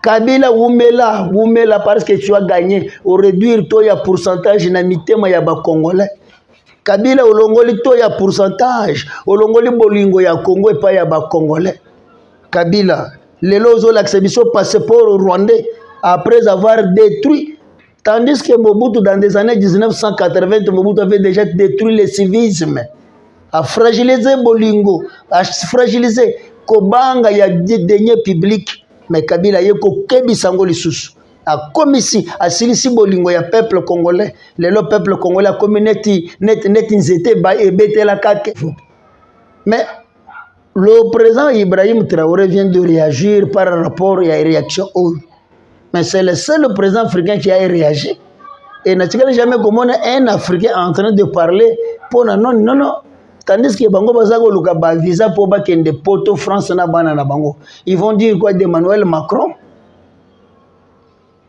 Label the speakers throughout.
Speaker 1: kabila wumela wumela parce que tu as gagné oreduire to ya pourcentage na mitema ya bacongolais kabila olongoli to ya pourcentage olongoli bolingo ya congo epai ya bacongolais kabila lelo ozolakisa biso passeport rwandais après avoir détruit Tandis que Mobutu, dans les années 1980, Mobutu avait déjà détruit le civisme, a fragilisé Bolingo, a fragilisé Kobanga, il y a des deniers publics, mais Kabila, il y a des sango lisusu. akomisi asilisi bolingo ya peuple congolais lelo peuple congolais akomi neti, neti, neti nzete ebetelaka te mais Le président Ibrahim Traoré vient de réagir par rapport à la réaction oyo. Mais c'est le seul président africain qui a réagi. Et n'a jamais comment un Africain en train de parler pour non non non tandis que bango baza koluka ba visa mpo bakende poto france na bana na bango ils vont dire quoi de manuel macron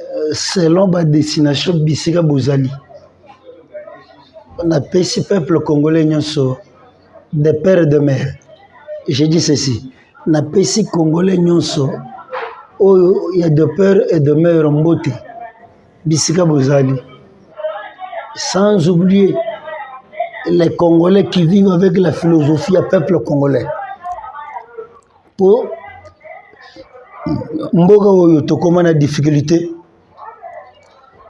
Speaker 1: euh, selon ba destination bisika bozali napesi peuple congolais nyonso de père de mère je dis ceci napesi congolais nyonso oyo ya de père et de mère mbote bisika bozali sans oublier les Congolais qui vivent avec la philosophie à peuple congolais. po mboka oyo tokoma na difficulté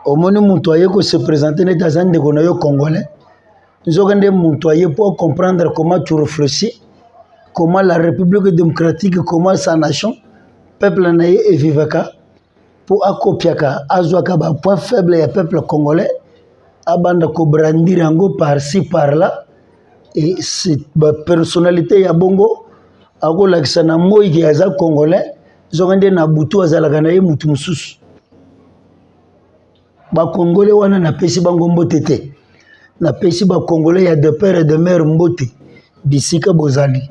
Speaker 1: omoni moto aye ko se présenter neti aza ndeko na yo congolais nzoka nde moto aye po comprendre comment tu réfléchis comment la république démocratique comment sa nation peuple na ye evivaka mpo akopiaka azwaka ba point faible ya peuple congolais abanda kobrandir yango par ci par là e bapersonnalité ya bongo akolakisa na moi ke aza congolais zonga nde na butu azalaka na ye motu mosusu bakongole wana napesi bango mbote te napesi bakongole ya de père et de mère mbote bisika bozali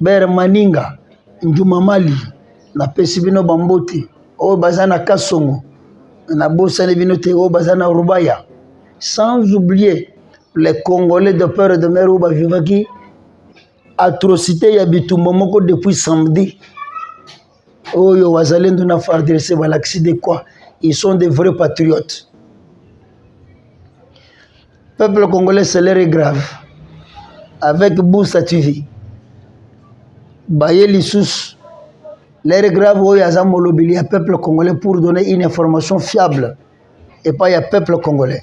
Speaker 1: bere maninga njuma mali napesi bino bambote oyo baza na kasongo nabosani bino te oyo baza na rubaya sans oublier les congolais de père et de mère oyo bavivaki atrocité ya bitumba moko depuis samedi oyo wazalendo na fardc balakisi de quoi ils sont des vrais patriotes peuple congolais salaire est grave avec busa tv baye lisusu l'air grave oyo aza molobeli ya peuple congolais pour donner une information fiable epai ya peuple congolais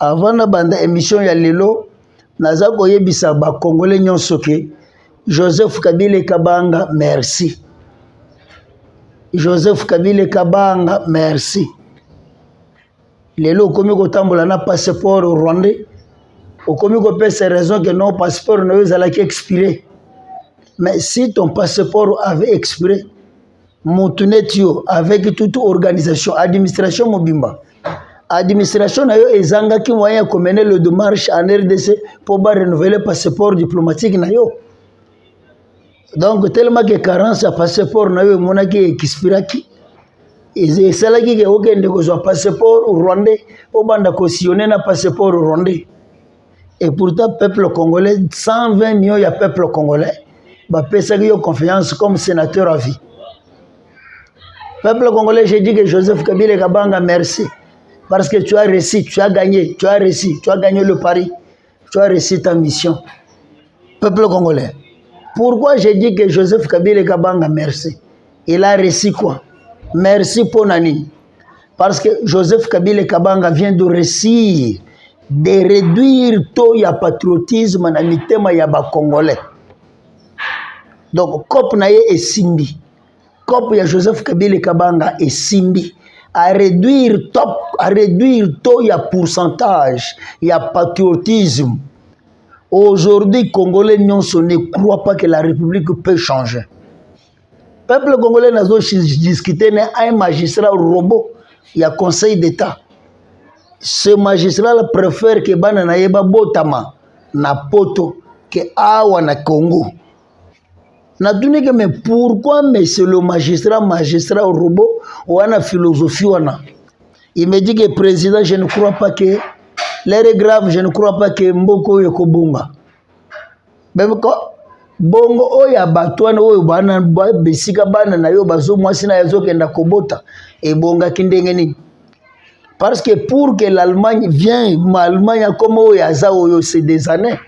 Speaker 1: Avant na banda emission ya lelo naza koyebisa ba congolais nyonso ke Joseph Kabila Kabanga merci. Joseph Kabila Kabanga merci. Lelo okomi kotambola na passeport rwandais okomi kopesa raison que non passeport na yo ezalaki expire mais si ton passeport avait expire motu neti yo avec toute organisation administration mobimba administration na yo ezangaki moyen ya komene le demarche en rdc mpo ba renouveler passeport diplomatique na yo donc tellement que carence ya passeport na yo emonaki expiraki esalaki ke okende kozwa passeport rwandais obanda kosillone na passeport rwandais et pourtant peuple congolais 120 millions ya peuple congolais bapesaki yo confiance comme sénateur à vie peuple congolais j'ai dit que joseph kabila kabanga merci parce que tu as réussi tu as gagné tu as réussi tu as gagné le pari tu as réussi ta mission peuple congolais pourquoi j'ai dit que joseph kabila kabanga merci il a réussi quoi merci mpo na nini Parce que Joseph Kabila Kabanga vient de réussir de réduire taux ya patriotisme na mitema ya ba Congolais. Donc cop na ye esimbi. Cop ya Joseph Kabila Kabanga esimbi à réduire top à réduire taux ya pourcentage ya patriotisme. Aujourd'hui, Congolais n'ont ne croient pas que la République peut changer. peuple congolais nazo discuter na un magistrat robot ya conseil d'état ce magistrat la préfère ke bana na ye babotama na poto ke awa na congo natuni ke mais pourquoi monsieur le magistrat magistrat robot wana philosophie wana il me dit que président je ne crois pas que l'air est grave je ne crois pas que mboko oyo ekobonga bongo oyo ya bato wana oyo bana bisika bana na yo bazo mwasi na ye azokenda kobota ebongaki ndenge nini parce que pour que l'allemagne vient allemagne akoma oyo aza oyo c'est des années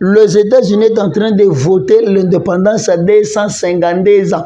Speaker 1: les états-unis est en train de voter l'indépendance à 252 ans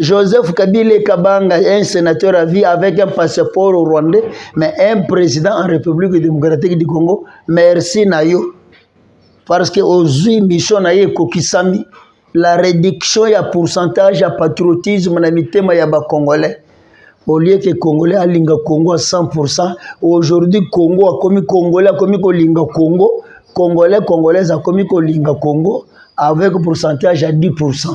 Speaker 1: Joseph Kabila Kabanga est un sénateur à vie avec un passeport au rwandais, mais un président en République démocratique du Congo. Merci Nayo. Parce que aux mission Nayo Kokisami, la réduction ya pourcentage ya patriotisme na mitema ya ba Congolais. Au lieu que Congolais alinga Congo à 100%, aujourd'hui Congo a commis Congolais a commis Kolinga Congo, Congolais Congolais a commis Kolinga Congo avec pourcentage à 10%.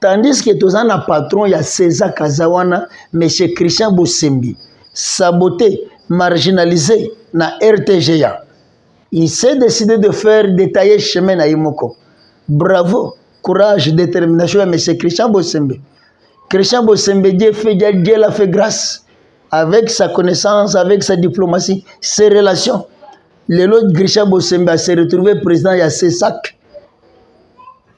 Speaker 1: tandis que toza na patron ya cesa kaza wana monsieur christian bosembi sabote marginalise na rtga il s'est décidé de faire détailler chemin na ye moko bravo courage détermination ya monsieur christian bosembi christian bosembi je fait je la fait grâce avec sa connaissance avec sa diplomatie ses relations lelo christian bosembi a se retrouver président ya cesac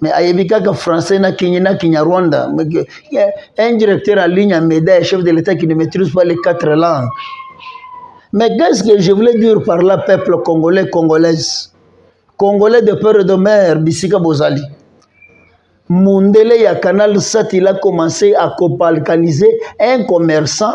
Speaker 1: mais ayebi kaka français na kini na kinyarwanda un directeur en ligne en médaille chef de l'état qui ne maîtrise pas les quatre langues mais qu'est-ce que je voulais dire par là peuple congolais congolaise congolais de père et de mère bisika bozali mundele ya canal sat il a commencé à cobalkaniser un commerçant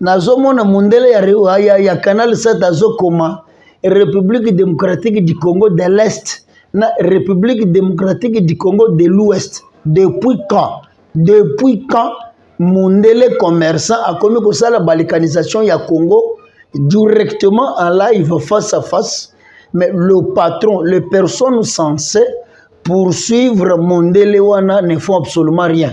Speaker 1: nazomona mondele ya, ya, ya, ya canal sat azokoma république démocratique du congo de l'est na république démocratique du congo de l'ouest depuis quand depuis quand mondele commerçant akomi kosala balikanisation ya congo directement en live face à face mais le patron les personnes censées poursuivre mondele wana ne font absolument rien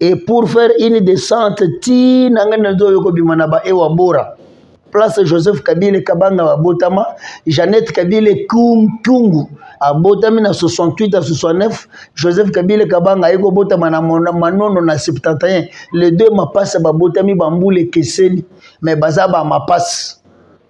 Speaker 1: et pour faire une descente ti na ngai nazo yo kobima na ba ewa bora place Joseph Kabila Kabanga abotama Jeannette Kabila Kungu abotami na 68 à 69 Joseph Kabila Kabanga ayeko botama na manono na 71 les deux mapasa babotami bambule keseni mais baza ba mapasa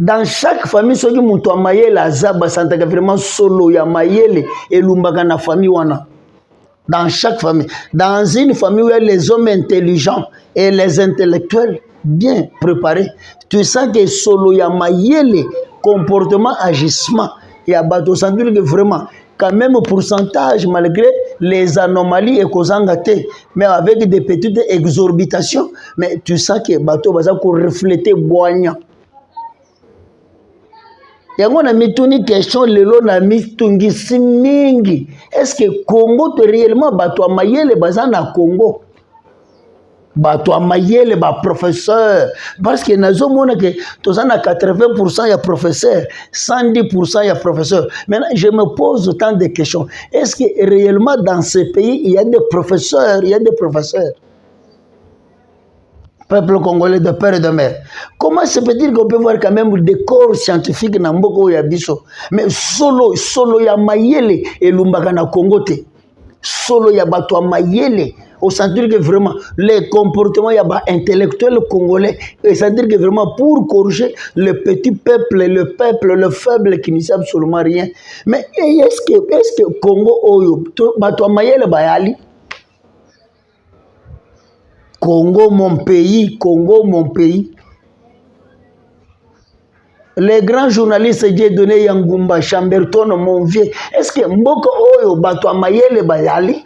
Speaker 1: dans chaque famille soki moto ya mayele aza basantaka vraiment solo ya mayele elumbaka na famille wana dans chaque famille dans une famille où il y a les hommes intelligents et les intellectuels bien préparés tu sens que solo ya mayele comportement agissement ya bato osantiri que vraiment quand même pourcentage malgré les anomalies et ekozanga te mais avec des petites exorbitations mais tu sens que bato baza koreflete bwanya yango na mituni question lelo na mitungisi mingi est ce que congo te réellement bato ya mayele baza na congo bato ya mayele baprofesseur parce que nazomona ke toza na 80 pourcent ya professeur 110 pourcent ya professeur maintenant je me pose autant de questions est ce que réellement dans ce pays il y a des professeurs il y a des professeurs peuple congolais de père et de mère comment se peut-il qu'on peut voir quand même des corps scientifiques na mboka oyo ya biso mais solo solo ya mayele elumbaka na congo te solo ya bato ya mayele osentir que vraiment le comportement ya baintellectuel congolais esentir que vraiment pour corriger le petit peuple le peuple le faible qui ne sait absolument rien mais est ce que, est ce que congo oyo bato ya mayele bayali Congo mon pays, Congo mon pays. Le grand journaliste Dieudonné Yangumba Chamberton mon vieux, est-ce que mboka oyo bato ya mayele bayali?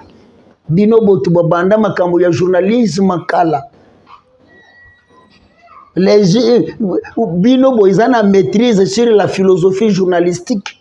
Speaker 1: Bino botu babanda makambo ya journalisme kala. Les, bino boza na maîtrise sur la philosophie journalistique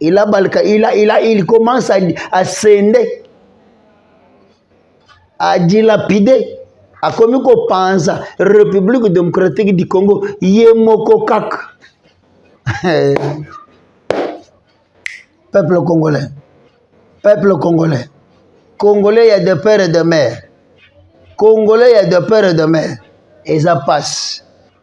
Speaker 1: il a balka il a il a il commence à, à sende à dilapider akomi kopanza république démocratique du congo ye moko kaka peuple congolais peuple congolais congolais ya de père et de mère congolais ya de père et de mère eza pasi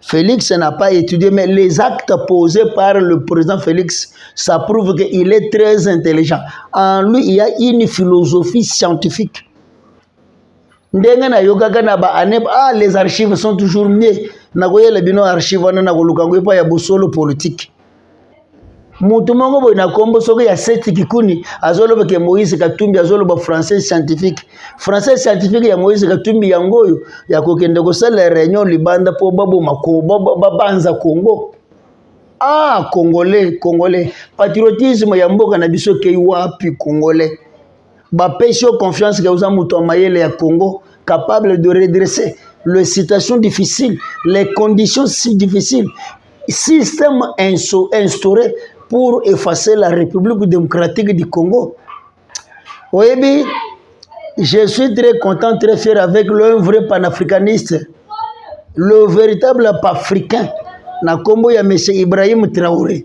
Speaker 1: Félix n'a pas étudié, mais les actes posés par le président Félix, ça prouve qu'il est très intelligent. En lui, il y a une philosophie scientifique. ndenge nayokaka na baane ah les archives sont toujours mieux nakoyela bino archive wana nakoluka yango epai ya bosolo politique moto moko boye na nkombo soki ya seti kikuni azoloba ke moïse katumbi azoloba français scientifique français scientifique ya moïse katumbi yango oyo ya kokende kosala réunion libanda mpo baboma babanza congo ah congolais congolais patriotisme ya mboka na biso ekei wapi congolais bapesi yo confiance ke oza moto ya mayele ya congo capable de redresser les situations difficiles les conditions si difficiles système instauré pour effacer la république démocratique du congo oyebi je suis très content très fier avec le vrai panafricaniste le véritable africain na nkombo ya monsieur ibrahim traoré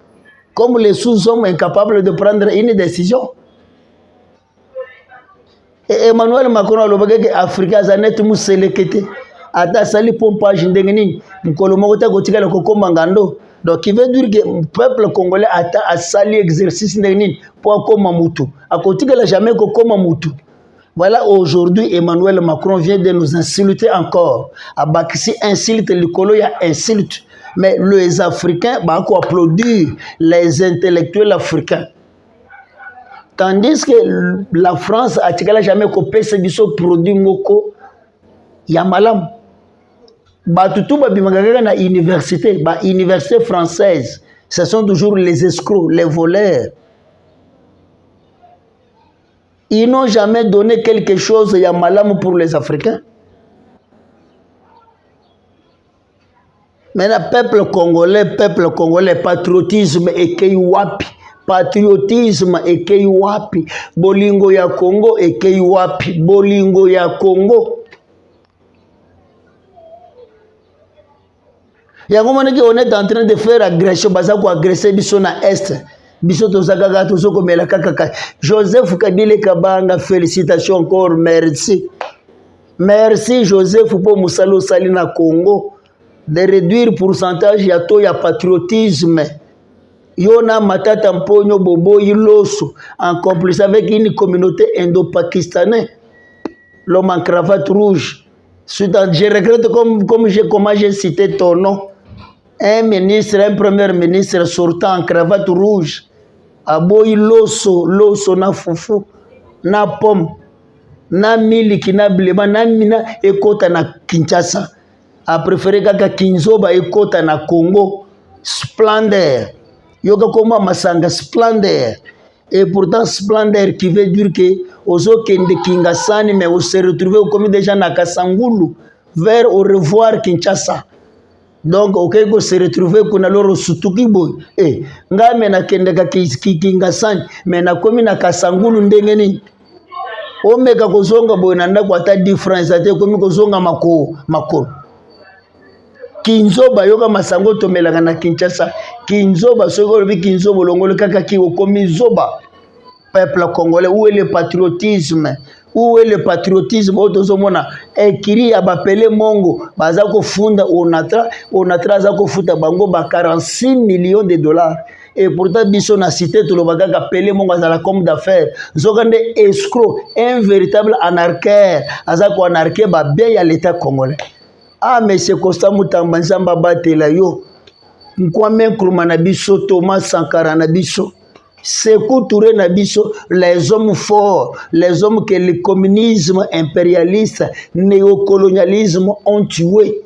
Speaker 1: comme les sous-hommes incapables de prendre une décision. Et Emmanuel Macron a dit Afrique a net muselekete. Ata sali pompage ndenge nini mukolo moko te kotikala kokoma ngando donc il veut dire que peuple congolais ata asali exercice ndenge nini mpo akoma mutu akotikala jamais kokoma mutu Voilà aujourd'hui Emmanuel Macron vient de nous insulter encore. Abakisi insulte likolo ya insulte. Mais les Africains bah ko applaudir les intellectuels africains. Tandis que la France a tigala jamais ko pesa biso produit moko ya malamu. Bato tout babimaka kaka na université, ba université française. Ce sont toujours les escrocs, les voleurs. Ils n'ont jamais donné quelque chose ya malamu pour les Africains. Maintenant, peuple congolais, peuple congolais, patriotisme ekei wapi? Patriotisme ekei wapi? Bolingo ya Congo ekei wapi? Bolingo ya Congo yango monaki on est en train de faire agression baza koagresse biso na est biso toza kaka tozokomela kaka joseph kabile kabanga félicitation encore merci merci joseph mpo mosala osali na congo de réduire pourcentage ya taux ya patriotisme yo na matata mponyo boboyi loso en complice avec une communauté indo-pakistanais l'homme en cravate rouge Suite à, je regrette comme, comme j'ai comment j'ai cité ton nom. Un ministre, un premier ministre sortant en cravate rouge, aboyi loso, loso na fufu, na pomme, na miliki, na bilema, na mina ekota na Kinshasa. A préféré kaka Kinzoba ekota na Congo. Splendeur. Yoka koma masanga splendeur. Et pourtant, splendeur qui veut dire que Ozo Kende Kingasani, mais on se retrouve au comité déjà na Kasangulu, vers au revoir Kinshasa. Donc, ok, on se retrouve qu'on a l'or sutuki boy. Eh, nga me na Kende Kingasani, mais na komi na Kasangulu ndengeni. Omeka kozonga boy na ndako ata difference ate komi kozonga makolo. Makolo. kinzoba yoka masango tomelaka na kinshasa kinzoba soki olobi kinzoba olongoli kaka ki okomi zoba peuple congolais où est le patriotisme où est le patriotisme oyo tozomona ekiri ya bapele mongo baza kofunda onatra onatra aza kofuta bango ba 46 millions de dollars et pourtant biso na cité toloba kaka pele mongo azala comme d'affaires nzoka nde escro un véritable anarquaire aza koanarke babien ya l'état congolais ah monsieur constant mutamba nzambe abatela yo nkwame nkruma na biso thomas sankara na biso Sekou Touré na biso les hommes forts les hommes que le communisme impérialiste néocolonialisme ont tué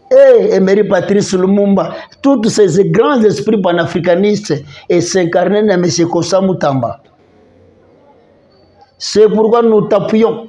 Speaker 1: et eh, Emery Patrice Lumumba tous ces grands esprits panafricanistes et s'incarner na M. Kosa Mutamba c'est pourquoi nous tapons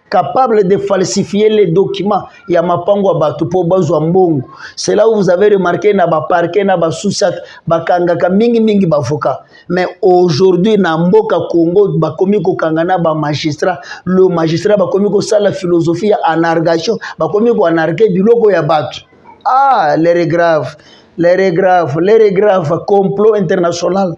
Speaker 1: capable de falsifier les documents ya mapango ya bato mpo bazwa mbongo cela vous avez remarqué na baparke na basusak bakangaka mingimingi bavocat mais aujourd'hui na mboka congo bakomi kokanga na bamagistrat le magistrat bakomi kosala philosophie ya anargation bakomi koanarke biloko ya bato ah lere grave lere grave lere grave complot international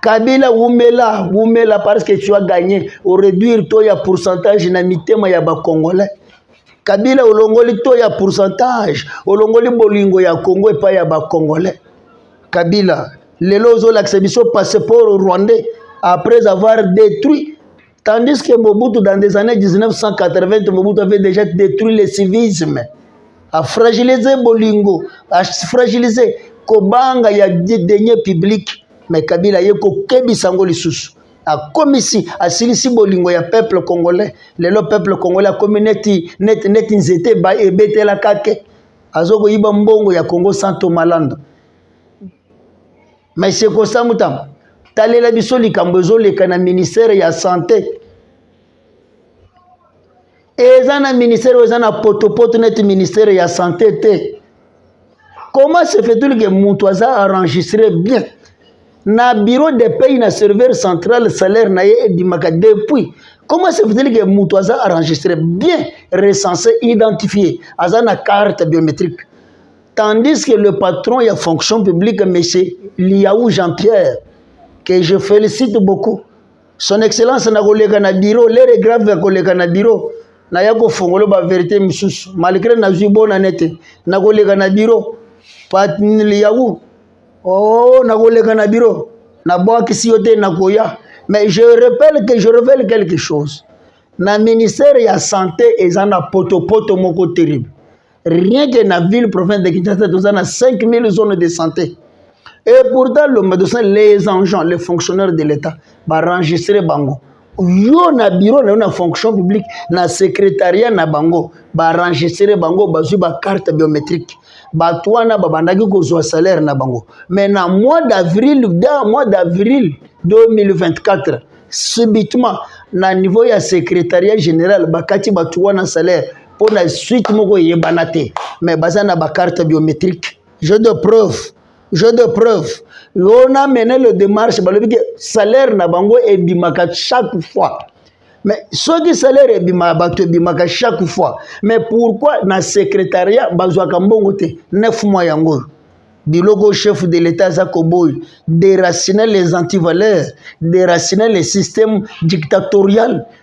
Speaker 1: Kabila wumela wumela parce que tu as gagné au réduire taux ya pourcentage na mitema ya ba congolais Kabila olongoli taux ya pourcentage olongoli bolingo ya Congo epai ya ba congolais Kabila lelo ozolakisa biso passeport rwandais après avoir détruit Tandis que Mobutu, dans les années 1980, Mobutu avait déjà détruit le civisme, a fragilisé Bolingo, a fragilisé Kobanga, il y a des deniers publics, mais Kabila, il y a kokebisa ngo lisusu. akomisi asilisi bolingo ya peuple congolais lelo peuple congolais akomi neti, neti, neti nzete ebetelaka te azokoyiba mbongo ya congo santo malanda Monsieur Kosa Mutamba, talela biso likambo ezoleka na ministère ya santé eza na ministère oyo eza na potopoto neti ministère ya santé te comment se fait-il que moto aza enregistre bien na bureau de paye na serveur central salaire na ye edimaka depuis comment se fait-il que moto aza enregistre bien recensé identifié aza na carte biométrique Tandis que le patron ya fonction publique, M. Liaou Jean-Pierre, que je félicite beaucoup, son excellence na koleka na bureau, l'heure est grave ya koleka na bureau, na ya kofongola ba verite misusu, malgré nazwi bonne année te, na koleka na bureau, Pat Liaou, oh, na koleka na bureau, na bwakisi yo te na koya, mais je rappelle que je révèle quelque chose, na ministère ya santé eza na potopoto moko terrible rien que na ville province de Kinshasa toza na 5000 zones de santé et pourtant lomba tosa les agents les fonctionnaires de l'état baenregistre bango yo na bureau na yo na fonction publique na secrétariat na bango baenregistre bango bazwi bacarte biométrique bato wana babandaki kozwa salaire na bango mais na mois d'avril da mois d'avril 2024 subitement na niveau ya secrétariat général bakati bato wana salaire mpo na suite moko eyebana te mais baza na bacarte biométrique jeu de preuve jeu de preuve lona mene le démarche balobi ke salaire na bango ebimaka chaque fois mais soki salaire ebimaka bato ebimaka chaque fois mais pourquoi na secrétariat bazwaka mbongo te 9 mois yango oyo biloko chef de l'état aza koboyi déraciner les antivaleurs déraciner les systèmes dictatoriales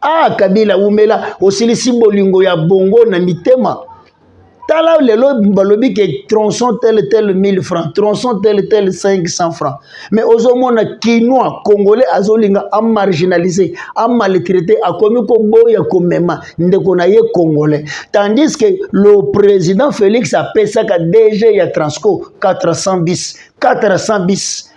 Speaker 1: ah kabila wumela osilisi bolingo ya bongo na mitema tala lelo balobi ke tronçon tel tel 1000 francs tronçon tel tel 500 francs mais ozomona kinois congolais azolinga amarginalise amaltraite akomi koboya komema ndeko na ye congolais tandis que le président félix apesaka dg ya transco 400 bis 400 bis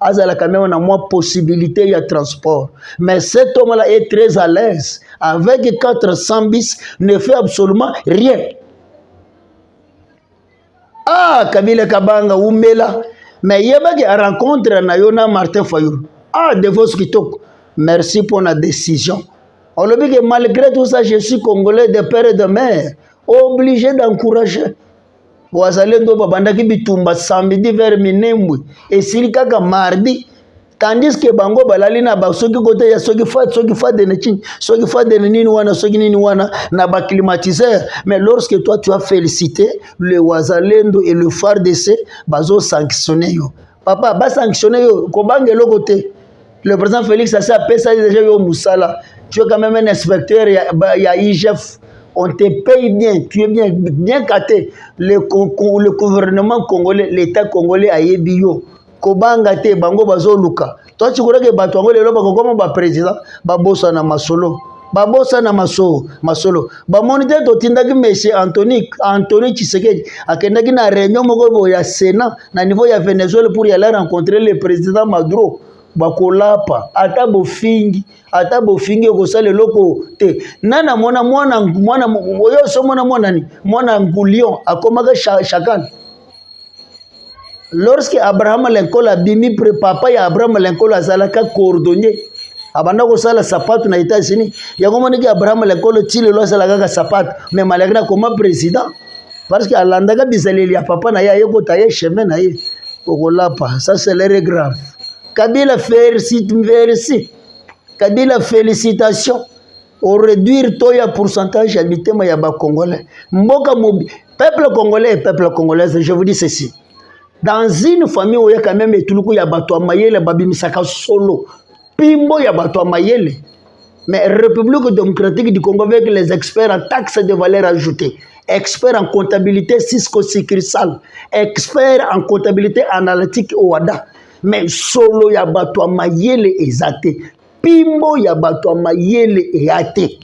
Speaker 1: azalaka meme na mwa possibilité ya transport mais cet homme là est très à l'aise avec 400 bis ne fait absolument rien ah kabila kabanga umela mais yebaki rencontre na yo na martin fayulu ah devos kitoko merci mpo na décision olobi ke malgré tout ça je suis congolais de père et de mère obligé d'encourager wazalendo babandaki bitumba samedi vers minembwe esili kaka mardi tandis que bango balali na basoki kote ya soki fa soki fa de ne chini soki fa de ne nini wana soki nini wana na ba climatiseur mais lorsque toi tu as félicité le wazalendo et le FARDC bazo sanctionner yo papa ba sanctionner yo ko banga eloko te le président Félix asi apesa ye déjà yo musala tu es quand même un inspecteur ya, ya IGF on te paye bien tu es bien bien caté le, le gouvernement congolais l'état congolais ayebi yo kobanga te bango bazoluka toi tu crois que bato yango lelo bakokoma baprésident babosana masolo babosana masolo masolo bamoni te totindaki monsieur antony antony tshisekedi akendaki na réunion moko boye ya sénat na niveau ya venezuela pour yala rencontrer le président maduro bakolapa ata bofingi ata bofingi okosala eloko te na namona mwana mwana oyo osomona mwana ni mwana ngulion akomaka chakane lorsque abrahama lincoln abimi papa ya abrahama lincoln azalaka coordonnier abanda kosala sapato na états-unis yango moniki abrahama lincoln ti lelo asala kaka sapato mais malaki na koma président parce que alandaka bizaleli ya papa na ye ayekota ye chemin na ye okolapa ça c'est l'air grave kabila félicite merci kabila félicitation oreduire to ya pourcentage ya mitema ya bacongolais mboka mobi peuple congolais et peuple congolaise je vous dis ceci dans une famille oyo quand même etuluku ya bato ya mayele babimisaka solo pimbo ya bato ya mayele mais république démocratique du congo avec les experts en taxe de valeur ajoutée expert en comptabilité cisco succursale expert en comptabilité analytique oada mais solo ya bato ya mayele eza te pimbo ya bato ya mayele eya te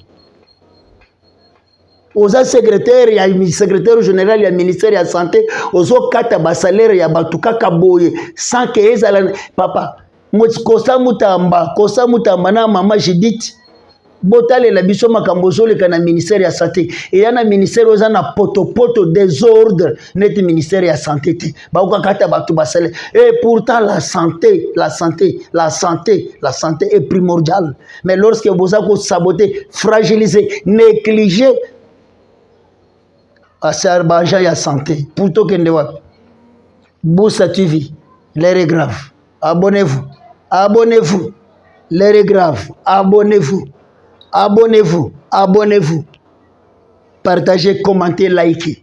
Speaker 1: oza secrétaire ya secrétaire général ya ministère ya santé ozokata basalaire ya bato kaka boye sans ke ezala papa kosa mutamba kosa mutamba na mama judite botalela biso makambo ozoleka na ministère ya santé eya na ministère oza na potopoto desordre neti ministère ya santé te bakokakata bato basale et pourtant la santé la santé la santé la santé est primordiale mais lorsque boza kosabote fragilise néglige asar baagent ya santé pour tokende wapi busa tv l'heure est grave abonnez-vous abonnez-vous l'heure est grave abonnez-vous abonnez-vous abonnez-vous partagez commentez likez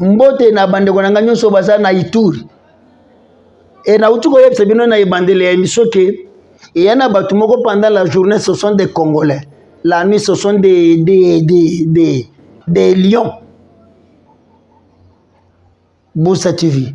Speaker 1: Mbote na bandeko na ngai nyonso baza na Ituri. E nauti koyebisa bino na ebandeli ya emission ke eya na bato moko pendant la journée ce sont des Congolais, la nuit ce sont des, des, des, des, des lions. Bosa TV.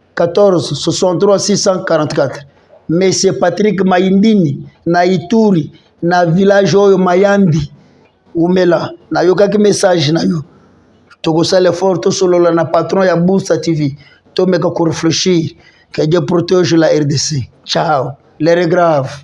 Speaker 1: 14 63 644 monsieur Patrick Maindini na Ituri na village oyo Mayambi umela nayokaki message na yo tokosala effort tosolola na patron ya Booster TV tomeka ko réfléchir que Dieu protège la RDC ciao l'heure est grave